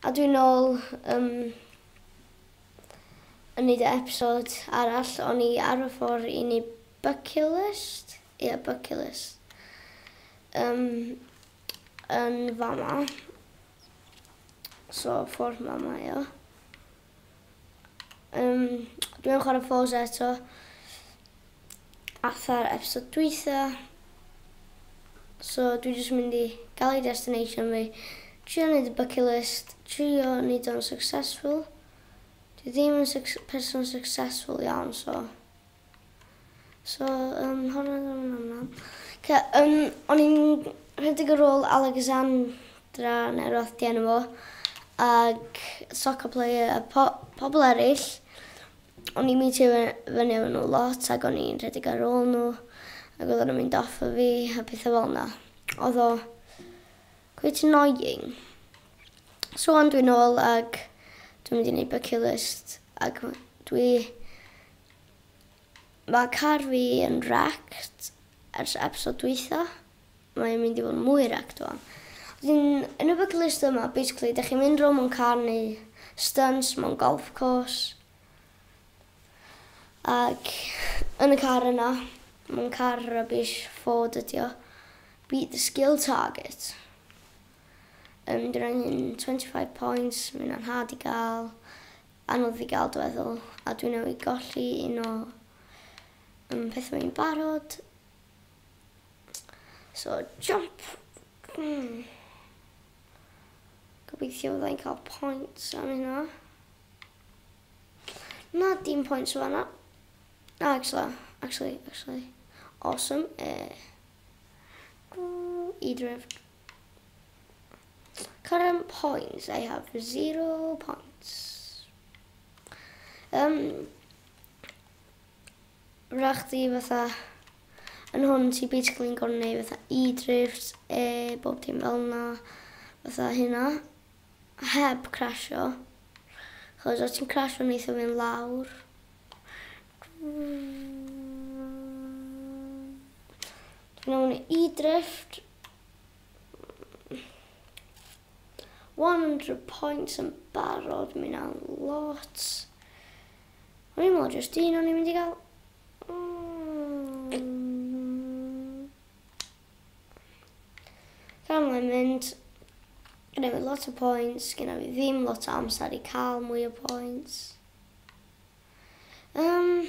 A dwi'n nôl um, yn neud y episod arall, o'n i ar y ffordd i ni bucket list, ie yeah, bucket list, um, yn fama, so ffordd ma mae o. Yym dwi yn chwarae Forza eto. Afa'r episode dwytha. So dwi jyst mynd i gael ei destination fi. Trio neud y bucket list. Trio neud o'n successful. Dwi ddim yn person successful iawn so. So, um, hwn yn yn aml. Ce, um, o'n i'n rhedeg y rôl Alexandra neu roth di enw fo, ag soccer player a po pobl eraill. O'n i'n meetio fyny efo nhw lot ac o'n i'n rhedeg ar ôl nhw ac oedd o'n mynd off o fi a pethau fel yna. Oedd o quite annoying. So ond dwi'n ôl ag dwi'n mynd i wneud bucket list ac dwi Mae car fi yn wrecked ers episode dwytha. Mae'n mynd i fod yn mwy wrecked wan. Wedyn, yn y bucket list yma, basically, dych chi'n mynd rownd mewn car neu stunts mewn golf course. Ac yn y car yna, mae'n car rubbish, Ford ydi o. Beat the skill target. Um, Dwi'n angen 25 points, mae'n anhad i gael. Anodd i gael dueddol, a dwi newydd golli un o um, pethau fi'n barod. So, jump! Mm. Gobeithio fyddai'n cael points am hynna. Na, dim points o fanna. Na, actually, actually, actually. Awesome. Uh, e, I drift. Current points, I have zero points. Um, rach di fatha, yn hwn ti basically yn gorfod neud fatha e-drifts, e, bob dim fel yna, fatha hynna, heb crasio. Chos os ti'n crasio neithio fi'n lawr. Dwi'n mewn e-drift, One hundred points yn barod, mae hynna'n lot. O'n i'n meddwl jyst un o'n i'n mynd i gael. Mm. Gan mae'n mynd, gyda fi lot o points, gyda fi ddim lot o amser i cael mwy o points. Um,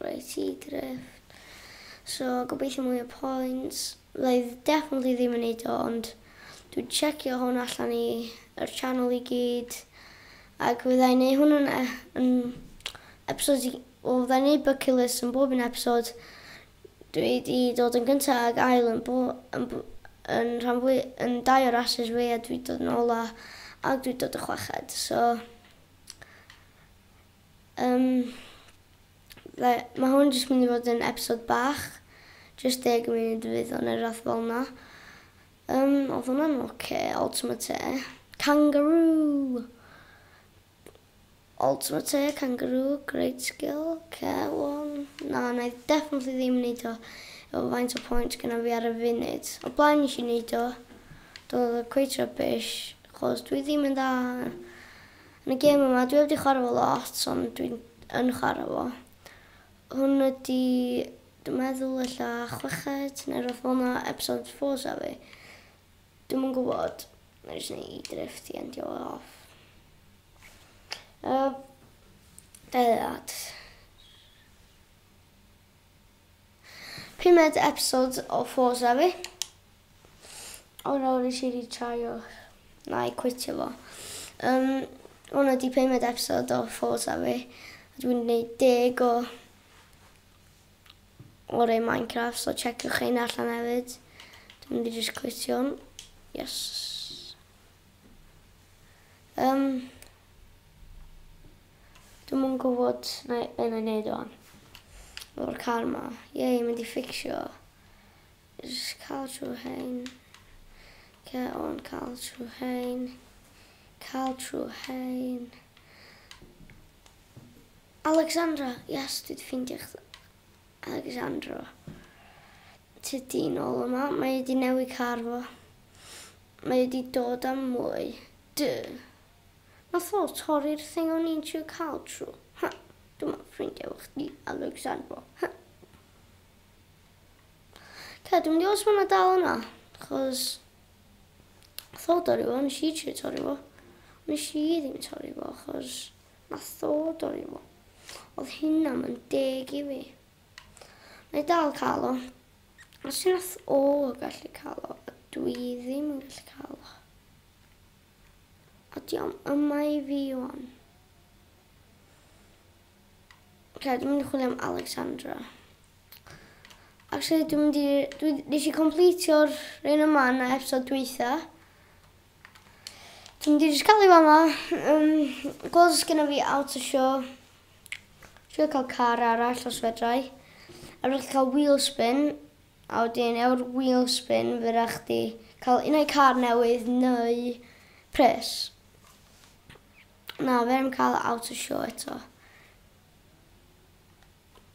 Reit ti drift. So gobeithio mwy o points. Fyddai definitely ddim yn neud o ond dwi'n checio hwn allan i yr channel i gyd. Ac fyddai neud hwn yn, e- yn episodes i... Wel fyddai neud bucket list yn bob un episod. Dwi di dod yn gynta ag ail yn bo... yn, bo, yn rhan fwy... yn dau o rasys fi a dwi dod yn ola ac dwi dod y chweched. So Yym fe- ma' hwn jyst mynd i fod yn episode bach, jyst deg munud fydd o ne' rwbath fel 'na. Yym odd hwnna'n ocê, Ultimate Air. Kangaroo! Ultimate Air, Kangaroo, great skill, ocê wel na na i definitely ddim neud o efo faint o points gynna fi ar y funud. O'r blaen nesh i neud o, do odd o cweit rubbish achos dwi ddim yn dda Yn y gêm yma, dwi heb 'di chwarae fo lot ond dwi yn chwarae fo. Hwn ydi, dwi'n meddwl ella chweched neu rwbeth fel 'na, episode of Forza fi. Dwi'm yn gwybod. Wna i jyst neud i drift i endio fo off. Yy, Dau ddeud. Pumed episode o Forza fi. O nawr nes i rîtraio. Na i cwitio fo. Yym hwn ydi pumed episode o Forza fi. Dwi'n gwneud deg o o rei Minecraft so checiwch rheina allan hefyd. Dwi'n mynd i jyst cwitio hwn. Yes. Yym. Dwi'm yn gwybod na- be' na'i neud ŵan. Efo'r car 'ma. Yay mynd i fficsio. Jys ca'l trw rhein. Oce on ca'l trw rhein. Ca'l trw rhein. Alexandra! Yes, dwi 'di ffeindio chdi. Alexandra. Tydi nôl yma. Mae 'di newid car fo. Mae e 'di dod am mwy. Duh. Nath o torri'r thing o'n i'n trio ca'l tro. Huh. Dyma ffrindiau efo chdi, Alexandro. Huh. Ca, dwi'n mynd i os ma' hwnna dal yna. Chos... Nath o dorri fo, nes i trio torri fo. Nes i ddim torri fo, chos... Nath o dorri fo. Oedd hynna yn deg i fi. Mae dal cael o. Os yw'r athro yn gallu cael o, a dwi ddim yn gallu cael o. A di o'm yma i fi o'n. Ok, dwi'n mynd i chwilio am Alexandra. Actually, dwi'n mynd i... Dwi, nes i completio'r un yma na episod dwytha. Dwi'n mynd i jyst cael ei fama. Um, gweld os gyda fi out o sio. Sio cael car arall os fedrai. A rydych chi'n cael wheel spin. A wedyn ewr wheel spin fe rydych chi cael un o'i car newydd neu pres. Na, fe rydym cael out o sio eto.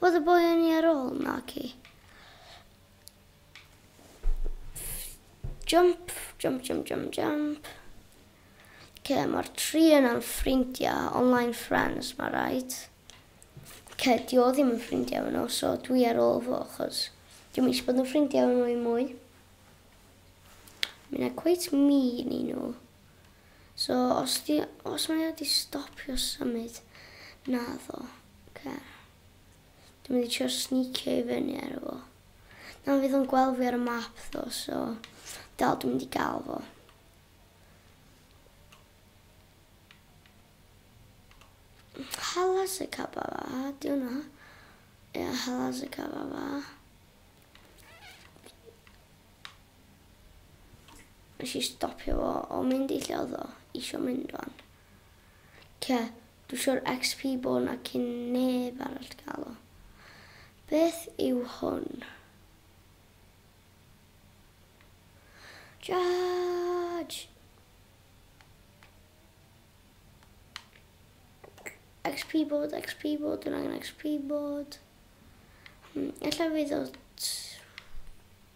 Oedd y boi yn i ar ôl? Naci. Jump, jump, jump, jump, jump. Ce, mae'r tri yna'n ffrindiau, online friends, mae rhaid. Ce, di o ddim yn ffrindiau yno, so dwi ar ôl fo, chos dwi'n mis bod yn ffrindiau yno i mwy. Mae'n cweit mi ni nhw. So os di, os mae o di stopio symud, naddo, oce. Dwi'n mynd i trio sneacio i fyny ar efo. Na, fydd o'n gweld fi ar y map ddo, so dal dwi'n mynd i gael fo. Halas y caba fa, di hwnna. Ia, halas y caba fa. Nes i stopio fo o mynd i lle oedd o isio mynd o'n. Cia, dwi eisiau'r XP bod na cyn neb arall gael o. Beth yw hwn? Judge! XP bod, XP bod, dwi'n angen XP bod. Ella fi ddod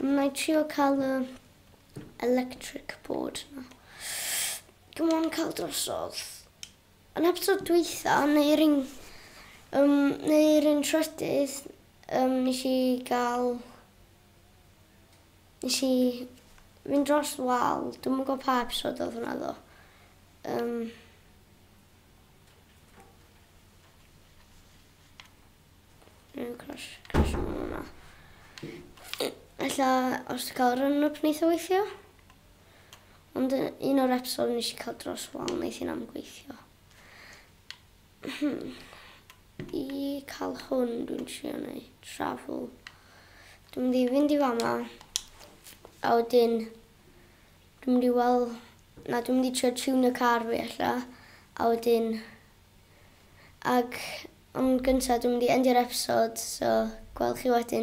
Wna i trio cael y electric board na. Come on, cael drosodd. Yn episod dweitha, neu'r un, um, neu'r un trydydd, um, nes i gael... Nes i fynd dros wal. Dwi'n mwyn gwybod pa episod oedd hwnna ddo. Um, Yn crash, crash yn hwnna. Ella os ti cael run up neith o weithio. Ond un o'r episod nes i cael dros wal neith hi'n am gweithio. Hmm. I cael hwn dwi'n trio neu travel. Dwi'n mynd i fynd i fama. A wedyn dwi'n mynd i weld... Na, dwi'n mynd i trio tune y car fi ella. A wedyn Ac am gynta dwi mynd i endio'r episod so gwel chi wedyn.